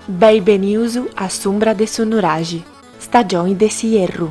Beni benius a s'umbra de su nuraxi, stagioni de s'ierru.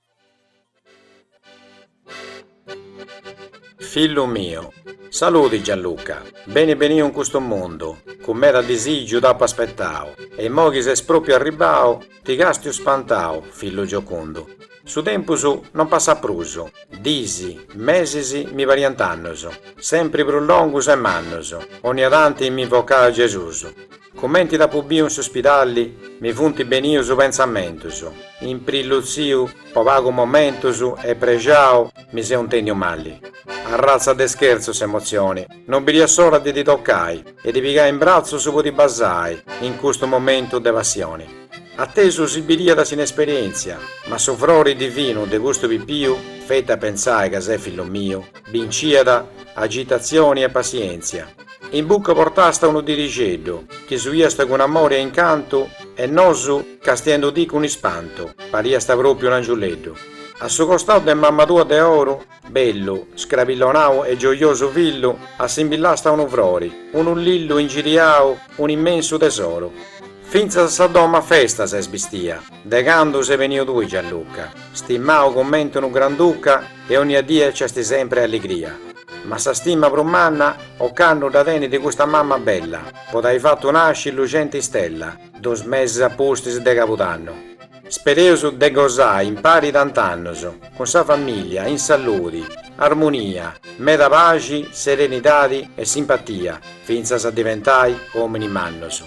Fillu miu. Saludi Gianluca, beni beniu in custu mundu, cun meda disìgiu t'apu aspetau, e immoi chi ses pròpiu arribau, ti castiu spantau, fillu giocundu. Su tempus non passat prus, dis, mesis mi pariant annus, sempri prus longus e mannus, 'onnia tanti m'invocau a Gesus, Cumenti t'apu biu in su spidali mi funt benius pentzamentus, imprillutziu po pagu momentus e prexau mi seu intendiu mali. Arratza de schertzu s'emotzioni, non biria s'ora de ti toccai e ti pigai in bratzus po ti basai in custu momentu de passioni. A tesu si biriat s'inesperientzia, ma su frori divinu de custu pipiu feti a pentzai ca ses fillu miu binciat agitatzioni e passientzia. In buca portàst unu dirixeddu, chi suiast cun amori e incantu, e nosu, castiendu ti cun ispantu, pariast pròpiu un angiuleddu. A su costau de mamma tua de oru, bellu, scrabillonau e gioiosu fillu, assimbillàst unu frori, unu lillu ingiriau, un immensu tesoru. Fintzas sa domu a festa s'est bistia, de candu ses beniu tui Gianluca, stimau coment'unu granduca e onnia die nc'est sempri alligria. Ma sa stima prus manna, ocannu dda tenit custa mamma bella, po t'ai fatu nasci lucenti istella, dos mesis a pustis de cabudannu. Spereus de gosai impari tant'annus, cun sa familia, in saludi, armunia, meda paxi, serenidadi e simpatia, fintzas a diventai ominis mannus.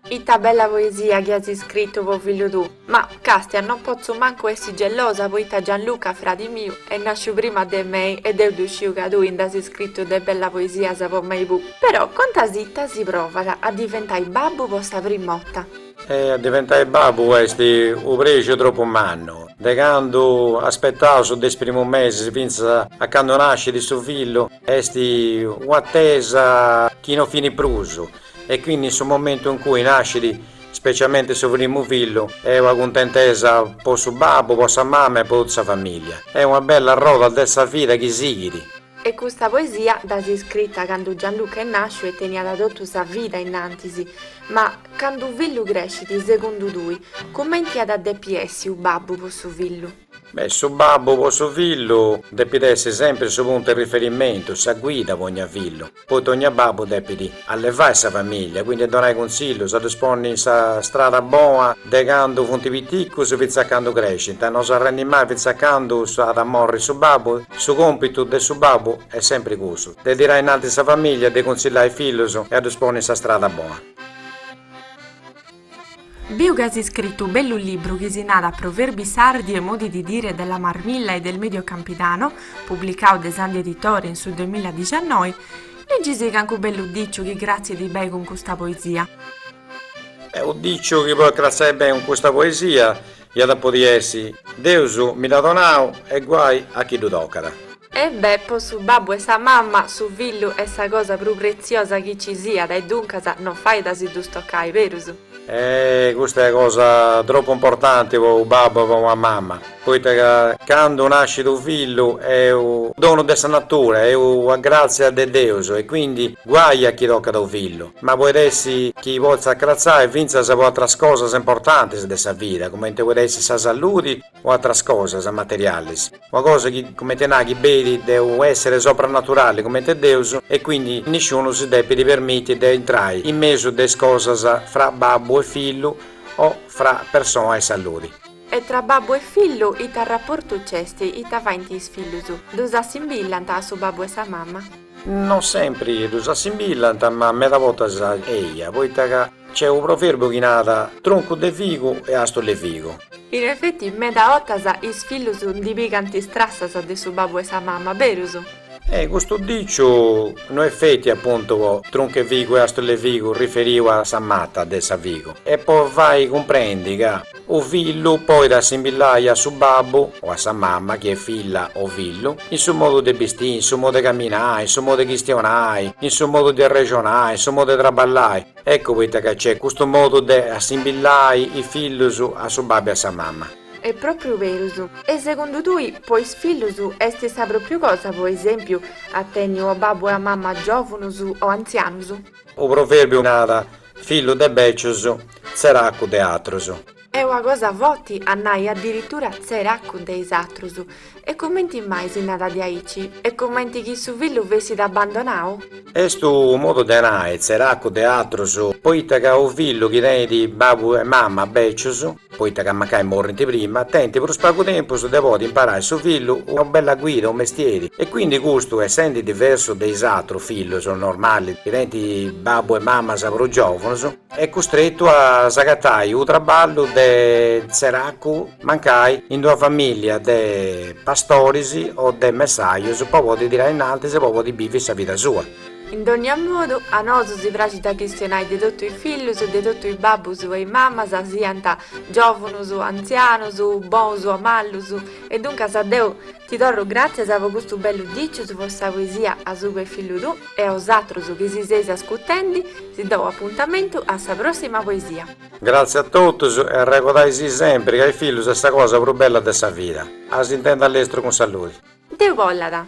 Ita bella poesia chi as iscritu po fillu tuu, ma, castia, non potzu mancu essi gelosa poita Gianluca, fradi miu, est nasciu prima de mei e deu ddu sciu ca tui nd'as iscritu de bellas poesias po mei puu. Però contasì ita si provat a diventai babbu po sa prim'ota? E a diventai babbu est u prexu tropu mannu, de candu aspetaus de is primus mesis fintzas a candu nascit su fillu est u'atesa chi non finit prus, E quindi in su momentu in cui nascit specialmente su primu fillu est una cuntentesa po su babbu, po sa mama e po totu sa familia. Est una bella arroda de sa vida chi sighit. E custa poesia dd'as iscrita candu Gianluca est nàsciu e teniat totu sa vida innantis, ma candu unu fillu crescit segundu tui, cumenti at a depi essi unu babbu po su fillu? E su babbu po su fillu depit essi sempri su puntu 'e riferimentu, sa guida po ogna fillu, poita ogna babbu depit allevai sa familia, quindi donai cunsillus, ddus ponni in sa strada bona de candu funt piticus fintzas a candu crescint, no s'arrendi mai fintzas a candu s'at a morri su babbu, su compitu de su babbu est sempri cussu, de tirai innanti sa familia, de cunsillai is fillus e a ddus ponni in sa strada bona. Biu ca as iscritu u bellu libru chi si nat Proverbi sardi e modi di dire della Marmilla e del Medio Campidano, publicau de Sandi Editore in su duemiladiciannoi, Legisi cancu bellu diciu chi cratzit bei cun custa poesia. Beh, u diciu chi podit cratzai bei cun custa poesia Iat a podi essi. Deus mi dh'at donau e guai a chi dhu tocat. E bè, po su babbu e sa mamma, su fillu est sa cosa prus pretziosa chi ci siat e duncas no fait a si dhus tocai, berus? Eh, custa est ua cosa tropu importanti po u babbu e po ua mamma, poita ca candu nascit u fillu est u donu de sa natura, est ua gratzia de Deus e quindi guai a chi tocat u fillu. ma poit essi chi potzat acratzai fintzas po atras cosas importantis de sa vida, cumente poit essi sa salludi o atras cosas materialis, una cosa chi, cumente nai, chi beit de unu essere sopranaturali cumente Deus, e quindi nisciunu si depit permiti de intrai in mesu de is cosas fra babbu e fillu o fra persoa e salludi. E tra babbu e fillu ita rapportu c'est, ita faint is fillus? Ddus assimbillant a su babbu e sa mama? Non sempri ddus assimbillant, ma meda bortas eia, poita ca c'est u proverbu chi nat, Truncu de figu e àstula 'e figu. In efeti, meda 'ottas is fillus ndi pigant is trassas de su babbu e sa mama, berus? E custu diciu no est feti apuntu po truncu 'e figu e àstula 'e figu riferiu a sa mata de sa figu, est po fai cumprendi ca, U fillu poit assimbillai a su babbu o a sa mamma chi est filla o fillu, in su modu de bistii, in su modu de caminai, in su modu de chistionai, in su modu de arrexonai, in su modu de traballai. Eccu poita ca c'est custu modu de assimbillai is fillus a su babbu e a sa mamma. Est propriu berus. E segundu tui, po is fillus est sa propriu cosa po esempiu a tenni u babbu e ua mamma giovanus o antzianus? U proverbiu nat, Fillu de bècius, tzeracu de atrus. Est una cosa foti a nai adiritura tzeracu de is atrus. E cumenti mai si narat diaici? Est cumenti chi su fillu fessit abandonau? Est unu modu de nai tzeracu de atrus, poita ca unu fillu chi tenit babu e mama bècius, poita ca mancai morrint prima, tenint prus pagu tempus de podi imparai su fillu una bella guida, unu mestieri, e quindi custu essendi diversu de is atrus fillus normalis chi tenint babbus e mamas prus giovunus, est custretu a si agatai unu trabballu de tzeracu mancai in d'una familia de pastoris o de messajus po podi tirai innantis e po podi bivi sa vida sua. In dònnia modu, a nosu si praxit a chistionai de totu is fillus e de totu is babbus e is mamas, siant giòvunus, antzianus, bous o mallus, e duncas a Deus ti torru gràtzias po custu bellu dicius, po sa poesia A su che fillu tu e a osatrus chi si seis ascutendi, si dou apuntamentu a sa pròssima poesia. Gràtzias a totus e arregodai-si sempri ca is fillus est sa cosa prus bella de sa vida. A s'intendi a lestru cun saludi. Deus bollat.